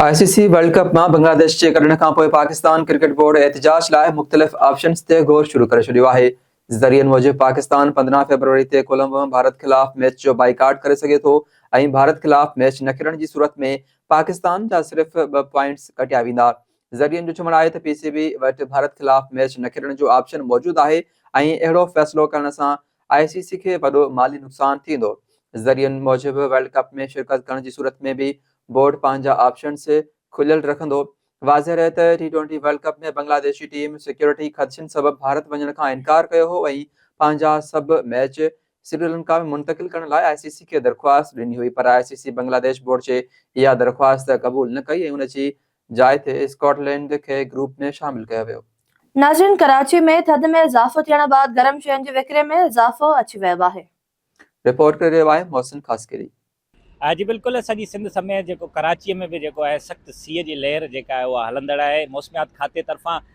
آء C C world cup مان بنگلاديش جي ڪڍڻ کانپوء پاڪستان ڪرڪيٽ بورڊ احتجاج لاء مختلف آپشنز تي غور شروع ڪري ڇڏيو آهي، ذريعن موجب پاڪستان پندرهن فيبروري تي ڪولمبو ۾ ڀارت خلاف ميچ جو بائيڪاٽ ڪري سگهي ٿو ۽ ڀارت خلاف ميچ نه کيڏڻ جي صورت ۾ پاڪستان جا صرف ٻه پوائنٽس ڪٽيا ويندا. ذريعن جو چوڻ آهي ته پي سي بي وٽ ڀارت خلاف ميچ نه کيڏڻ جو آپشن موجود آهي ۽ اهڙو فيصلو ڪرڻ سان آء سي سي کي وڏو مالي نقصان ٿيندو، ذريعن موجب ورلڊ ڪپ ۾ شرڪت ڪرڻ جي صورت ۾ به بورڊ پنهنجا آپشنز کليل رکندو، واضح رهي ته T twenty world cup ۾ Bangladeshi team security خدشن سبب ڀارت وڃڻ کان انڪار ڪيو هو ۽ پنهنجا سڀ ميچ سريلنڪا ۾ منتقل ڪرڻ لاء آء سي سي کي درخواست ڏني هئي پر آء سي سي بنگلاديش بورڊ جي اها درخواست قبول نه ڪئي ۽ ان جي جاء تي اسڪاٽ لينڊ کي گروپ ۾ شامل ڪيو ويو. ناظرين ڪراچي ۾ ٿڌ ۾ اضافو ٿيڻ بعد گرم شين جي وڪري ۾ اضافو اچي ويو آهي. رپورٽ ڪري رهيو آهي محسن خاصخيلي. جي بلڪل سڄي سنڌ سميت جيڪو ڪراچي ۾ به جيڪو آهي سخت سيء جي لهر جيڪا آهي اها هلندڙ آهي موسميات کاتي طرفان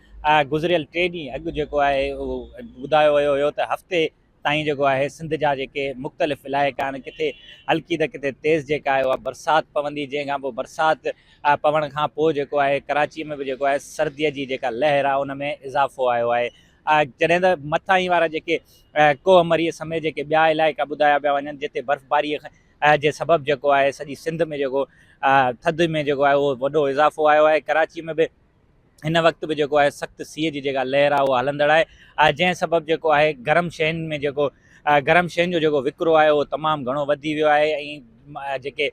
گذريل ٽي ڏينهن اڳ جيڪو آهي اهو ٻڌايو ويو هيو ته هفتي تائين جيڪو آهي سنڌ جا جيڪي مختلف علائقا آهن ڪٿي هلڪي ته ڪٿي تيز جيڪا آهي اها برسات پوندي جنهن کان پوء برسات پوڻ کان پوء جيڪو آهي ڪراچي ۾ به جيڪو آهي سردي جي جيڪا لهر آهي ان ۾ اضافو آيو آهي جڏهن ته مٿاهين وارا جيڪي ڪوه مري سميت جيڪي ٻيا علائقا ٻڌايا پيا وڃن جتي برفباري جي سبب جيڪو آهي سڄي سنڌ ۾ جيڪو ٿڌ ۾ جيڪو آهي اهو وڏو اضافو آيو آهي ڪراچي ۾ به هن وقت به جيڪو آهي سخت سيء جي جيڪا لهر آهي اها هلندڙ آهي جنهن سبب جيڪو آهي گرم شين ۾ جيڪو گرم شين جو جيڪو وڪرو آهي اهو تمام گهڻو وڌي ويو آهي ۽ جيڪي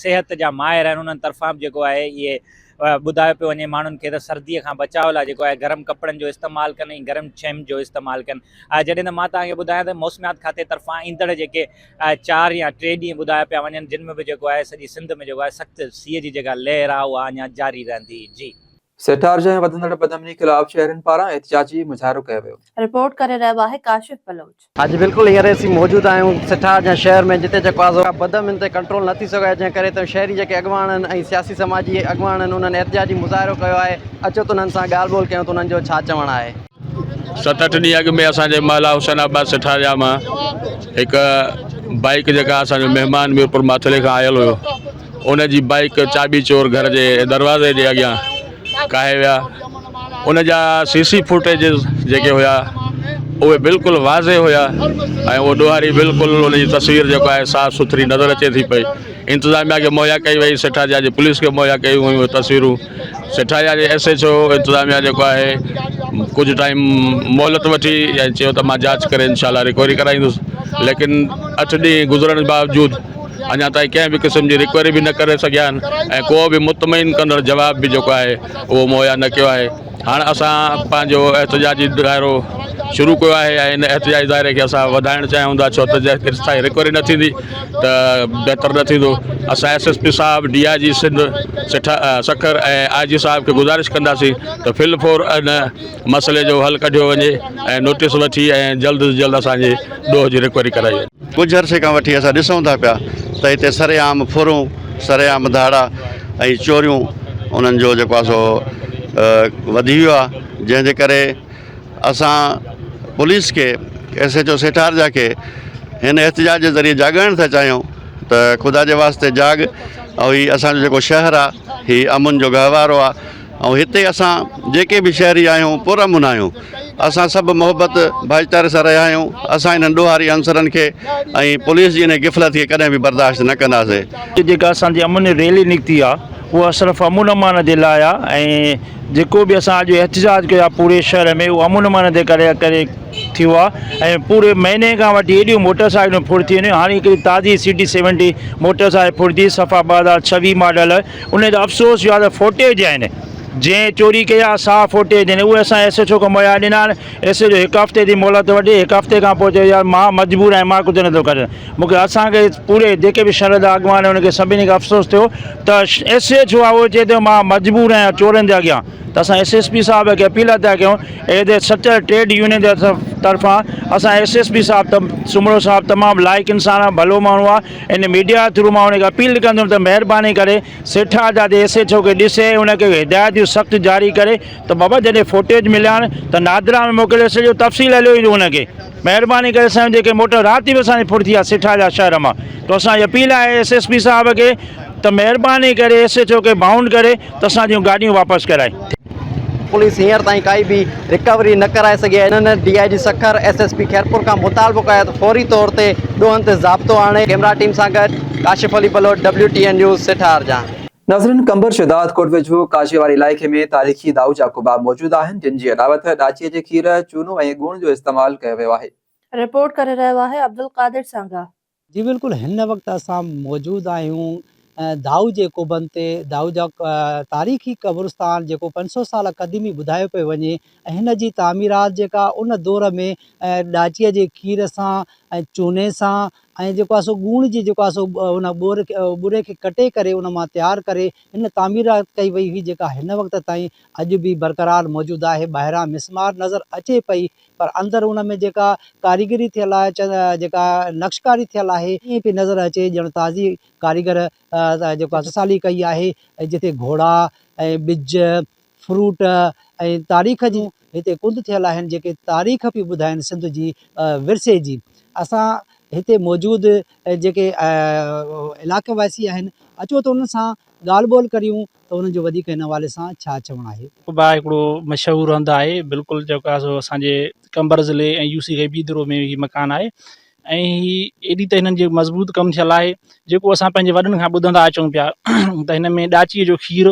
صحت جا ماهر آهن انهن طرفان به جيڪو آهي اهي ٻڌايو پيو وڃي ماڻهن کي ته سرديء کان بچاء لاء جيڪو آهي گرم ڪپڙن جو استعمال ڪن ۽ گرم شين جو استعمال ڪن جڏهن ته مان تهان کي ٻڌايان ته موسميات کاتي طرفان ايندڙ جيڪي اهي چار يا ٽي ڏينهن ٻڌايا پيا وڃن جن ۾ به جيڪو آهي سڄي سنڌ ۾ جيڪو آهي سخت سيء جي جيڪا لهر آهي اها اڃا جاري رهندي جي. سيٺارج ۽ وڌندڙ بدامني خلاف شهرين پاران احتجاجي مظاهرو ڪيو ويو. رپورٽ ڪري رهيو آهي ڪاشف بلوچ. اڄ بلڪل هينئر اسين موجود آهيون سيٺارج ۽ شهر ۾ جتي جيڪو آهي سو بدامني تي ڪنٽرول نه ٿي سگهيو آهي جنهن ڪري ته شهري جيڪي اڳواڻ آهن ۽ سياسي سماجي اڳواڻ آهن انهن احتجاجي مظاهرو ڪيو آهي اچو ته انهن سان ڳالهه ٻولهه ڪيون ته انهن جو ڇا چوڻ آهي. ست اٺ ڏينهن اڳ ۾ اسان جي محلا حسين آباد سٺاريا مان هڪ بائيڪ جيڪا اسان جو مهمان ميرپور ماٿري کان آيل هيو ان جي بائيڪ چاٻي چور گهر جي دروازي جي اڳيان ڪاهي ويا ان جا سي سي فوٽيجز جيڪي هيا اهي بلڪل واضح هيا ۽ اهو ڏوهاري بلڪل ان جي تصوير جيڪو آهي صاف سٿري نظر اچي ٿي پئي انتظاميا کي مهيا ڪئي وئي سٺاريا جي پوليس کي مهيا ڪيون ويون تصويرون سيٺاريا جي ايس ايڇ او انتظاميا جيڪو آهي ڪجهه ٽائيم مهلت وٺي ۽ چيو ته مان جاچ ڪري انشاء الله ريڪوري ڪرائيندس ليڪن اٺ ڏينهن گذرڻ باوجود اڃا تائين ڪنهن به قسم جي ريڪوري به نه ڪري سگهيا آهن ۽ ڪو به مطمئن ڪندڙ جواب به جيڪو آهي اهو مهيا نه ڪيو آهي هاڻ اسان پنهنجو احتجاجي دائرو شروع ڪيو آهي ۽ ان احتجاجي دائري کي اسان وڌائڻ چاهيون ٿا ڇو ته جيستائين ريڪوري نه ٿيندي ته بهتر نه ٿيندو اسان ايس ايس پي صاحب ڊي آء جي سنڌ سٺا سکر ۽ آء جي صاحب کي گذارش ڪنداسين ته فل فور ان مسئلي جو حل ڪڍيو وڃي ۽ نوٽيس وٺي ۽ جلد از جلد اسان جي ڏوهه جي رڪوري ڪرائي وڃي. ڪجهه عرصي کان وٺي اسان ڏسون ٿا پيا ته هتي سر عام ڦرون سر عام ڌاڙا ۽ چوريون انهن جو جيڪو آهي سو وڌي ويو آهي جنهن جي ڪري اسان پوليس کي ايس ايچ او سيٺارجا کي هن احتجاج جي ذريعي جاڳائڻ ٿا چاهيون ته خدا جي واسطي جاڳ ۽ هي اسانجو جيڪو شهر آ هي امن جو گهوارو آ ۽ هتي اسان جيڪي به شهري آهيون پر امن آهيون اسان سڀ محبت ڀائيچاري سان رهيا آهيون اسان هنن ڏوهاري عنصرن کي ۽ پوليس جي ان غفلت کي ڪڏهن به برداشت نه ڪنداسين جيڪا اسانجي امن ريلي نڪتي آ اها صرف امن امان جي لاء آ ۽ جيڪو به اسان اڄ احتجاج ڪيو آهي پوري شهر ۾ اهو امن امان جي ڪري ڪري ٿيو آهي ۽ پوري مهيني کان وٺي ايڏيون موٽر سائيڪلون ڦڙ ٿي ويون هاڻي هڪڙي تازي C D seventy motor cycle ڦڙ ٿي صفا ٻه هزار ڇويهه ماڊل ان جو افسوس اهو آهي ته ڦوٽيج آهن جنهن چوري ڪئي آهي سا ڦوٽيج آهن اهي اسان ايس ايڇ او کي مهيا ڏنا آهن ايس ايڇ او هڪ هفتي جي مهلت وٺي هڪ هفتي کان پوء چيو يار مان مجبور آهيان مان ڪجهه نٿو ڪري سگهان مون کي اسان کي پوري جيڪي به شهر جا اڳواڻ هئا ان کي سڀني کي افسوس ٿيو ته ايس ايڇ او آيو چئي ته مان مجبور آهيان چورن جي اڳيان ته اسان ايس ايس پي صاحب کي اپيل ٿا ڪيون ايڌي سچل ٽريڊ يونين جي طرفان اسان ايس ايس پي صاحب ته سومرو صاحب تمام لائق انسان آهي ڀلو ماڻهو آهي ان ميڊيا جي ٿرو مان ان کي اپيل ڪندم ته مهرباني ڪري سيٺا جا ايس ايڇ او کي ڏسي ان کي هدايتون سخت جاري ڪري ته بابا جڏهن فوٽيج مليان ته نادرا ۾ موڪلي سڄو تفصيل هليو ايندو هن کي مهرباني ڪري اسان جي جيڪي موٽر رات به اسان جي ڦڙ ٿي آ سٺا جا شهر مان تو اسان جي اپيل آهي ايس ايس پي صاحب کي ته مهرباني ڪري ايس ايچ او کي بائونڊ ڪري ته اسان جون گاڏيون واپس ڪرائي. پوليس هينئر تائين ڪائي به رڪوري نه ڪرائي سگهي آهي انهن D I G Sukkur S S P Khairpur کان مطالبو ڪيو آهي ته فوري طور تي ڏوهن تي ضابطو آڻي ڪيمرا ٽيم سان گڏ Kashif Ali Baloch W T N news سٺار جان. ناظرين قمبر شهداد ڪوٽ ويجهو ڪاشي واري علائقي ۾ تاريخي دائو جا ڪباب موجود آهن جن جي علاوت ڏاچي جي کير، چونو ۽ ڳوڻ جو استعمال ڪيو ويو آهي. رپورٽ ڪري رهيو آهي عبدالقادر سانگا. جي بلڪل هن وقت اسان موجود آهيون دائو جي ڪوبن تي دائو جا تاريخي قبرستان جيڪو پنج سو سالا قديمي ٻڌايو پيو وڃي ۽ هن جي تعميرات جيڪا ان دور ۾ ڏاچي جي کير سان ۽ چوني سان ۽ جيڪو آهي سو ڳوڻ جي جيڪو آهي سو ان ٻور کي ٻوري کي ڪٽي ڪري ان مان تيار ڪري ان تعميرات ڪئي وئي هئي جيڪا هن وقت تائين اڄ به برقرار موجود آهي ٻاهران مسمار نظر اچي پئي پر اندر ان ۾ جيڪا ڪاريگري ٿيل آهي جيڪا نقش ڪاري ٿيل آهي ائين پئي نظر اچي ڄڻ تازي ڪاريگر جيڪو آهي سالي ڪئي آهي جتي گهوڙا ۽ ٻج فروٽ ۽ تاريخ جون هتي ڪنڊ ٿيل آهن جيڪي تاريخ پيون ٻڌائن سنڌ جي ورثي جي اسان هتي موجود جيڪي علائقي واسي آهن اچو ته انهن سان ڳالهه ٻولهه ڪريون ته انهن جو وڌيڪ هن حوالي سان ڇا چوڻ آهي. قبا هڪڙو مشهور هنڌ آهي بلڪل جيڪا اسان جي قمبر ضلعي ۽ يوسي غيبي دورو ۾ هي مڪان آهي ۽ هي ايڏي ته هنن جي مضبوط ڪم ٿيل آهي جيڪو اسان پنهنجي وڏن کان ٻڌندا اچون پيا ته هن ۾ ڏاچيء جو کير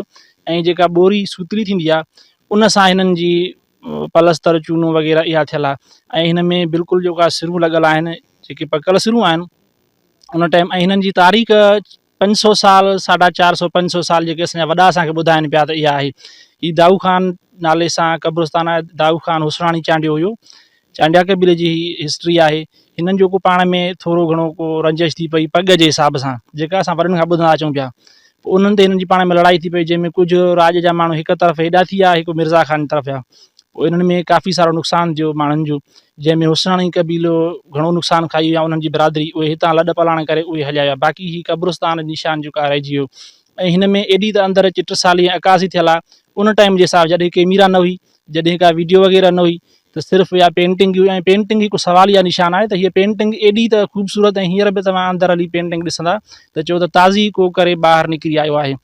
۽ جيڪا ٻوري سوتلي ٿيندي آهي ان سان هنن جي پلستر چونو وغيره اها ٿيل آهي ۽ هن ۾ بلڪل جيڪا سرون لڳل آهن جيڪي پڪل سرون آهن ان ٽائيم ۽ هنن جي تاريخ پنج سؤ سال، ساڍا چار سؤ پنج سؤ سال جيڪي اسان جا وڏا اسان کي ٻڌائين پيا ته اها آهي. هي دائو خان نالي سان قبرستان آهي. دائو خان حسراڻي چانڊيو هيو. چانڊيا قبيلي جي هي هسٽري آهي. هنن جو ڪو پاڻ ۾ ٿورو گهڻو ڪو رنجش ٿي پئي پڳ جي حساب سان، جيڪا اسان وڏن کان ٻڌندا اچون پيا. پوء انهن تي هنن جي پاڻ ۾ لڙائي ٿي پئي، جنهن ۾ ڪجهه راڄ جا ماڻهو هڪ طرف هيڏا ٿي ويا، هڪ مرزا خان جي طرف ويا. انهن ۾ ڪافي سارو نقصان ٿيو ماڻهن جو جنهن ۾ حسناڻي قبيلو گهڻو نقصان کائي ويو يا انهن جي برادري اهي هتان لڏ پلاڻ ڪري اهي هليا ويا باقي هي قبرستان جو نشان جيڪو آهي رهجي ويو ۽ هن ۾ ايڏي ته اندر اچي ٽسالي ۽ عڪاسي ٿيل آهي ان ٽائيم جي حساب جڏهن ڪيميرا نه هئي جڏهن ڪا ويڊيو وغيره نه هئي ته صرف يا پينٽنگ هئي ۽ پينٽنگ هڪ سوال يا نشان آهي ته هيء پينٽنگ ايڏي ته خوبصورت ۽ هينئر به توهان اندر هلي پينٽنگ ڏسندا ته چئو ته تازي ڪو ڪري ٻاهر نڪري آيو آهي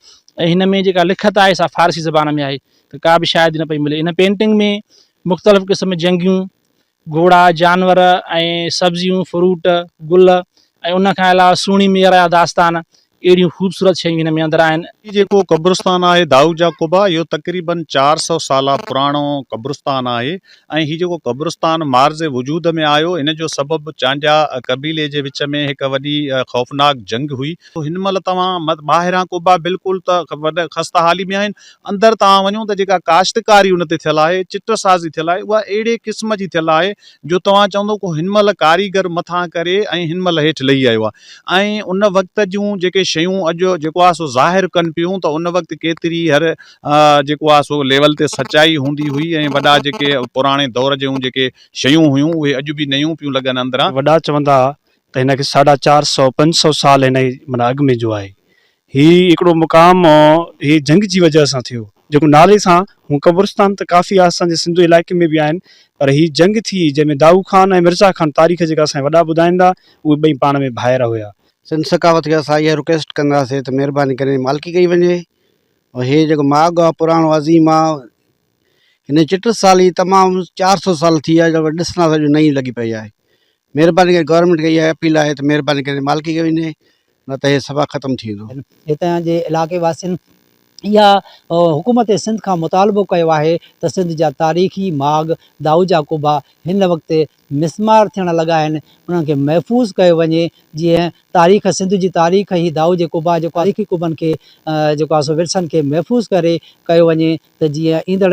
۽ هن ۾ جيڪا لکت آهي سا فارسي زبان ۾ آهي ته ڪا به شاهدي نه پئي ملي. هن پينٽنگ ۾ مختلف قسم جنگيون، گهوڙا، جانور ۽ سبزيون، فروٽ، گل ۽ ان کان علاوه سهڻي مير جا داستان اهڙيون خوبصورت شيون هن ۾ اندر آهن. هي جيڪو قبرستان آهي دائود جا قبا اهو تقريباً چار سؤ سالا پراڻو قبرستان آهي ۽ هي جيڪو قبرستان معرض وجود ۾ آيو ان جو سبب چانڊيا قبيلي جي وچ ۾ هڪ وڏي خوفناڪ جنگ هئي. هن مهل توهان ٻاهران قبا بلڪل ته وڏي خسته حالي ۾ آهن اندر توهان وڃو ته جيڪا ڪاشتڪاري ان تي ٿيل آهي، چٽ سازي ٿيل آهي، اها اهڙي قسم جي ٿيل آهي جو توهان چوندو ڪو هن مهل ڪاريگر مٿان ڪري ۽ هن مهل هيٺ لهي آيو آهي ۽ ان وقت جون جيڪي شيون اڄ جيڪو آهي سو ظاهر ڪن پيون ته ان وقت ڪيتري هر جيڪو آهي سو ليول تي سچائي هوندي هئي ۽ وڏا جيڪي پراڻي دور جون جيڪي شيون هيون اهي اڄ به نيون پيون لڳن اندران. وڏا چوندا ته هن کي ساڍا چار سئو پنج سئو سال هن جي معنيٰ اڳ ۾ جو آهي هي هڪڙو مقام هي جهنگ جي وجهه سان ٿيو جيڪو نالي سان هون قبرستان ته ڪافي آسان جي سنڌو علائقي ۾ به آهن پر هي جهنگ ٿي جنهن ۾ دائو خان ۽ مرزا خان تاريخ جيڪا اسان جي وڏا ٻڌائين ٿا اهي ٻئي پاڻ ۾ ڀائر هيا. سنڌ ثقافت کي اسان اها رڪويسٽ ڪنداسين ته مهرباني ڪري مالڪي ڪئي وڃي ۽ هي جيڪو ماڳ آ پراڻو عظيم آ هن چٽ سالي تمام چار سو سال ٿي ويا آهن ڏسنداسين جو نئين لڳي پئي آهي مهرباني ڪري گورنمينٽ کي اها اپيل آهي ته مهرباني ڪري مالڪي کي وڃي نه ته هي صفا ختم ٿي ويندو. هتان جي علائقي واسين اها حڪومت سنڌ کان مطالبو ڪيو آهي ته سنڌ جا تاريخي ماڳ دائو جا قبا هن وقت مسمار ٿيڻ لڳا آهن انهن کي محفوظ ڪيو وڃي جيئن تاريخ سنڌ جي تاريخ هي دائو جي قبا جيڪو تاريخي قبن کي جيڪو آهي سو ورثن کي محفوظ ڪري ڪيو وڃي ته جيئن ايندڙ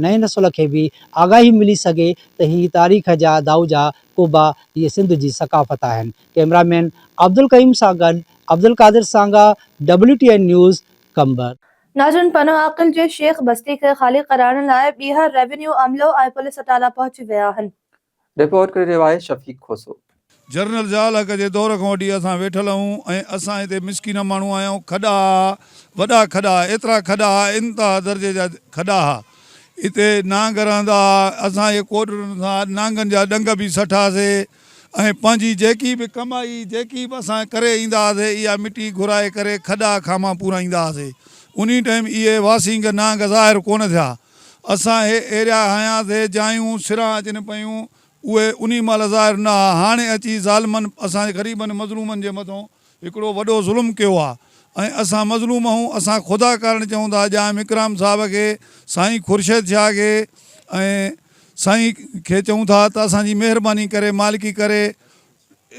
نئين نسل کي به آگاهي ملي سگهي ته هي تاريخ جا دائوجا ڪوبا هي سنڌ جي ثقافت آهن. ڪئميرا مين عبدالقيوم سان گڏ Abdul Qadir Sanga, W T N news, Qambar. ناجون پنهون عاقل جي شيخ بستي کي خالي ڪرائڻ لاء ٻيهر ريونيو عملو ۽ پوليس اٽالا پهچي ويا آهن. رپورٽ ڪري رهيو آهي شفيق کوسو. جرنل ضياء الحق جي دور کان وٺي اسان ويٺل اهون ۽ اسان هتي مسڪين ماڻهو آهيا اهو کڏا ها وڏا کڏا ها ايترا کڏا ها انتها درجي جا کڏا ها هتي نانگ رهندا ها اسان جي ڪوڏرن سان نانگن جا ڏنگ به سٺا سي ۽ پنهنجي جيڪي به ڪمائي جيڪي به اسان ڪري ايندا ها سي اها مٽي گهرائي ڪري کڏا کاما پورائيندا ها سي انهي ٽيم اهي واسينگ نانگ ظاهر ڪونه ٿيا اسان هي ايريا هايان ٿي جايون سران اچن پيون اهي انهي مهل ظاهر نه ها هاڻي اچي ظالمن اسان جي غريبن مظلومن جي مٿون هڪڙو وڏو ظلم ڪيو آ ۽ اسان مظلوم هون اسان خدا ڪارڻ چئون ٿا جائم اڪرام صاحب کي سائين خورشيد شاهه کي ۽ سائين کي چئون ٿا ته اسان جي مهرباني ڪري مالڪي ڪري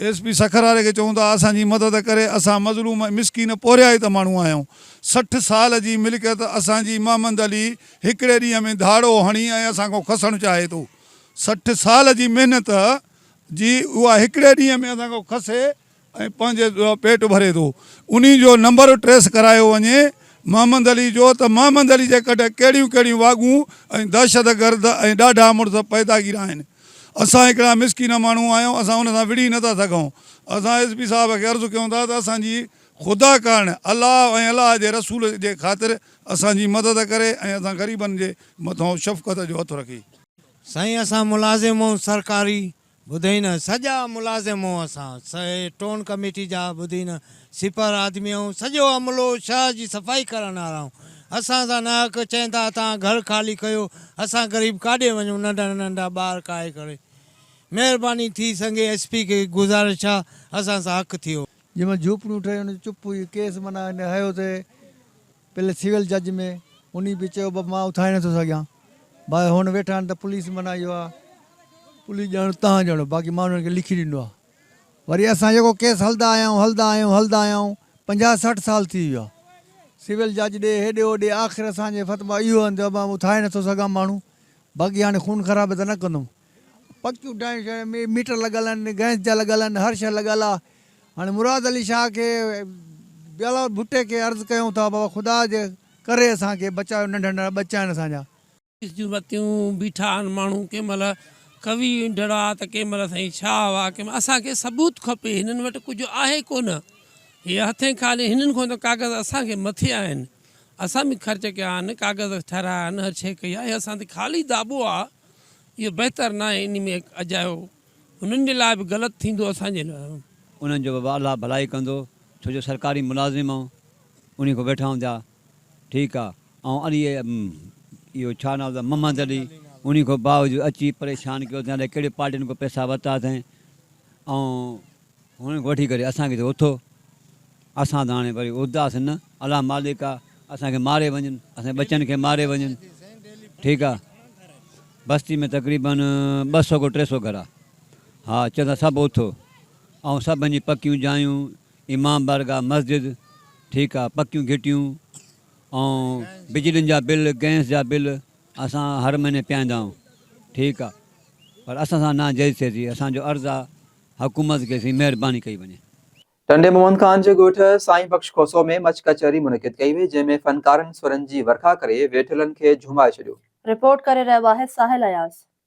ايس پي سکر واري کي چئون ته اسان جي مدد ڪري اسان مظلوم ۽ مسڪين پورهيائت ماڻهو آهيون سٺ سال جي ملڪيت اسان جي محمد علي هڪڙي ڏينهن ۾ ڌاڙو هڻي ۽ اسان کان کسڻ چاهي ٿو سٺ سال جي محنت جي اها هڪڙي ڏينهن ۾ اسان کان کسي ۽ پنهنجي پيٽ ڀري ٿو انهي جو نمبر ٽريس ڪرايو وڃي محمد علي جو ته محمد علي جي ڪڍ ڪهڙيون ڪهڙيون واڳون ۽ دهشت گرد ۽ ڏاڍا مڙس پيداگير آهن. اسان هڪڙا مسڪين ماڻهو آهيون، اسان ان سان وڙهي نٿا سگهون. اسان ايس پي صاحب کي عرض ڪيون ٿا ته اسان جي خدا ڪارڻ الله ۽ الله جي رسول جي خاطر اسان جي مدد ڪري ۽ اسان غريبن جي مٿان شفقت جو هٿ رکي. سائين اسان ملازم اون سرڪاري ٻڌئين نه سڄا ملازم اون اسان سهي ٽون ڪميٽي جا ٻڌي نه. سپر آدمي ۽ سڄو عملو شهر جي صفائي ڪرڻ آرائون اسان سان ناحق چين ٿا اتان گهر خالي ڪيو اسان غريب ڪاڏي وڃون ننڍا ننڍا ٻار ڪاهي ڪري مهرباني ٿي سنگي ايس پي کي گذارش آ اسان سان حق ٿيو. جنهن مان جهوپڙيون ٺهيون ان جو چپ هئي ڪيس معنيٰ هن هيو ته پهلي سول جج ۾ انهي به چيو بابا مان اٿائي نٿو سگهيان باقي هون ويٺا آهن ته پوليس معنيٰ اهو آ پوليس ڄاڻو تهان ڄاڻو باقي مان انهن کي لکي ڏنو آ. وري اسان جيڪو ڪيس هلدا آيا آهيون، هلدا آهيون، هلدا آيا آهيون، پنجاهه سٺ سال ٿي ويا، سول جج ڏي، هيڏي هوڏي، آخر اسان جي فت مان اهو انت ابا اٿائي نٿو سگهان ماڻهو، باقي هاڻي خون خرابي ته نه ڪندم، پڪيون ڊائون شهر ۾ ميٽر لڳل آهن، گئس جا لڳل آهن، هر شيء لڳل آ، هاڻي مراد علي شاهه کي، بلاول ڀٽي کي عرض ڪيون ٿا بابا خدا جي ڪري اسان کي بچايو ننڍڙا ننڍڙا ٻچا آهن اسان جا. اس جون رتيون بيٺا آھن ماڻھو ڪنھن مھل قوي ھنڊڙا ته ڪنھن مھل سائين شاھ ھئا ڪنھن مھل اسان کي ثبوت کپي ھنن وٽ ڪجھ آھي ڪونه ھي ھٿين خالي ھنن کان ته ڪاغذ اسان کي مٿي آھن اسان به خرچ ڪيا آھن ڪاغذ ٺھرايا آھن ھر شيء ڪئي آھي اسان تي خالي داٻو آ اھو بھتر ناھي انھي ۾ ھڪ اجايو ھنن جي لاء به غلط ٿيندو اسان جي لاء انھن جو به الله ڀلائي ڪندو ڇو جو سرڪاري ملازم آھون انھي کان ويٺا آھون ٿيا ٺيڪ آ آئون علي اهو ڇا نالو اٿس محمد علي انهي کان باوجود اچي پريشان ڪيو اٿين الائي ڪهڙي پارٽين کان پئسا ورتا اٿين آئون هنن کان وٺي ڪري اسان کي ٿو اٿو اسان ته هاڻي وري ارداس نه الله مالڪ آ اسان کي ماري وڃن اسان ٻچن کي ماري وڃن ٺيڪ آ بستي ۾ تقريبن ٻه سو کان ٽي سو گهر آ ها چئن ٿا سڀ اٿو آئون سڀن جي پڪيون جايون امام بارگاهه مسجد، ٺيڪا، پڪيون گهٽيون ۽ بجلين جا بل، گئنس جا بل اسان هر مهيني پيائيندا آهيون، ٺيڪ آ، پر اسان سان ناجائز ٿئي ٿي، اسان جو عرض آ حڪومت کي سين مهرباني ڪئي وڃي. ٽنڊي محمد خان جي ڳوٺ سائين بخش کوسو ۾ مچ ڪچهري منعقد ڪئي وئي، جنهن ۾ فنڪارن سرن جي ورکا ڪري ويٺلن کي جهومائي ڇڏيو. رپورٽ ڪري رهيو آهي ساحل اياز.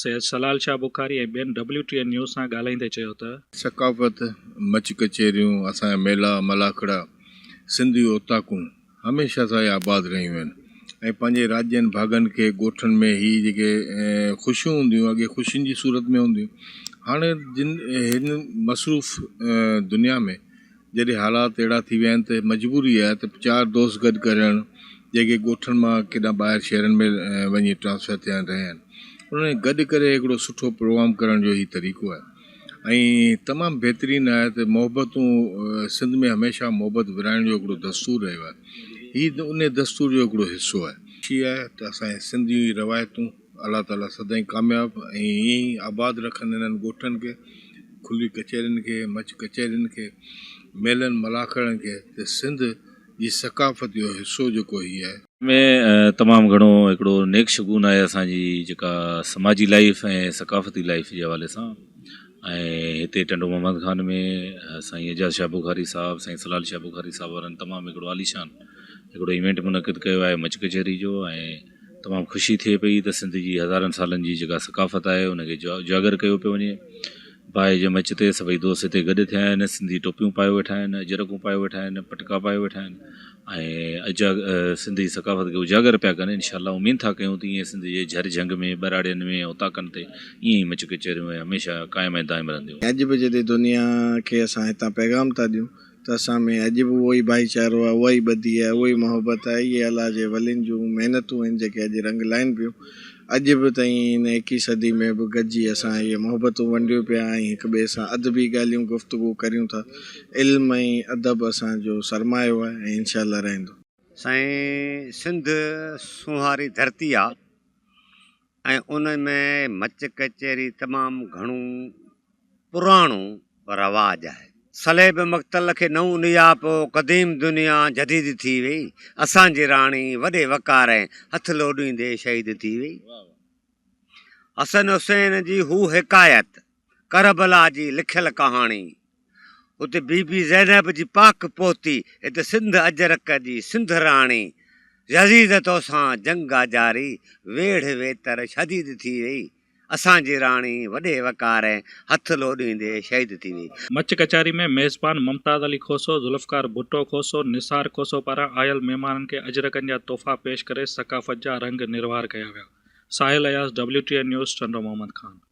سيد سلال شاهه بخاري ۽ ٻين ڊبليو ٽي اين نيوز سان ڳالهائيندي چيو ته. ثقافت، مچ ڪچهريون، اسان جا ميلا، ملاکڙا، سنڌي اوطاقون هميشه سان آباد رهيون آهن ۽ پنهنجي راڄن، ڀاڳن کي ڳوٺن ۾ هي جيڪي خوشيون هونديون هيون اڳي خوشين جي صورت ۾ هونديون هاڻي جن هن مصروف دنيا ۾. جڏهن حالات اهڙا ٿي ويا آهن ته مجبوري آهي ته چار دوست گڏ ڪري رهڻ، جيڪي ڳوٺن مان ڪيڏانهن ٻاهر شهرن ۾ وڃي ٽرانسفر ٿيا آهن رهيا آهن، انهن کي گڏ ڪري هڪڙو سٺو پروگرام ڪرڻ جو هي طريقو آهي ۽ تمام بهترين آهي ته محبتون سنڌ ۾ هميشه محبت ورهائڻ جو هڪڙو دستور رهيو آهي، هي انهي دستور جو هڪڙو حصو آهي. خوشي آهي ته اسان جي سنڌيون هي روايتون الله تعالي سدائين ڪامياب ۽ ائين ئي آباد رکن انهن ڳوٺن کي، کلي ڪچهرين کي، مچ ڪچهرين کي، ميلن ملاکڙن کي ته سنڌ جي ثقافت جو حصو جيڪو هي آهي. ۾ تمام گهڻو هڪڙو نيڪ شگون آهي اسان جي جيڪا سماجي لائيف ۽ ثقافتي لائيف جي حوالي سان ۽ هتي ٽنڊو محمد خان ۾ سائين اعجاز شاهه بخاري صاحب سائين سلال شاهه بخاري صاحب وارن تمام هڪڙو عاليشان هڪڙو ايونٽ منعقد ڪيو آهي مچ ڪچهري جو ۽ تمام خوشي ٿئي پئي ته سنڌ جي هزارن سالن جي جيڪا ثقافت آهي ان کي اجاگر ڪيو پيو وڃي. باهه جي مچ تي سڀئي دوست هتي گڏ ٿيا آهن، سنڌي ٽوپيون پايو ويٺا آهن، اجرڪون پايو ويٺا آهن، پٽڪا پايو ويٺا آهن ۽ سنڌي ثقافت کي اجاگر پيا ڪن انشاء الله اميد ٿا ڪيون ته ايئن سنڌ جي جهر جهنگ ۾ ٻهراڙين ۾ اوطاقن تي ايئن ئي مچ ڪچهريون ۽ هميشه قائم ۽ دائم رهنديون. اڄ به جدي دنيا کي اسان هتان پيغام ٿا ڏيون. ته اسان ۾ اڄ به اهو ئي ڀائيچارو آهي، اها ئي ٻڌي آهي، اهو ئي محبت آهي، اهي الله جي ولين جون محنتون آهن جيڪي اڄ رنگ لائن پيون. اڄ به تائين هن ايڪيهين صدي ۾ به گڏجي اسان اهي محبتون ونڊيون پيا ۽ هڪ ٻئي سان ادبي ڳالهيون گفتگو ڪريون ٿا. علم ۽ ادب اسان جو سرمايو آهي ۽ انشاء الله رهندو. سائين سنڌ سونهاري ڌرتي آ. ۽ ان ۾ مچ ڪچهري تمام گهڻو پراڻو رواج آهي. صليب مقتل کي نئون نياپو قديم دنيا جديد ٿي وئي. اسان جي راڻي وڏي وقار ۽ هٿ لوڏيندي شهيد ٿي وئي. حسن حسين جي هو حڪايت ڪربلا جي لکيل ڪهاڻي اتي بي بي زينب جي پاڪ پوتي ات سنڌ اجرڪ جي سنڌ راڻي يزيد تو سان جنگ اجاري ويڙهه ويتر شديد ٿي ويئي. اسان جي راڻي وڏي وقار ۽ هٿ لوڏيندي شهيد ٿي ويئي. مچ ڪچهري ۾ ميزبان ممتاز علي کوسو، ذوالفقار ڀٽو کوسو، نثار کوسو پاران آيل مهمانن کي اجرڪن جا تحفا پيش ڪري ثقافت جا رنگ نروار ڪيا ويا. Sahil Ayaz, WTI news, Tando Muhammad Khan.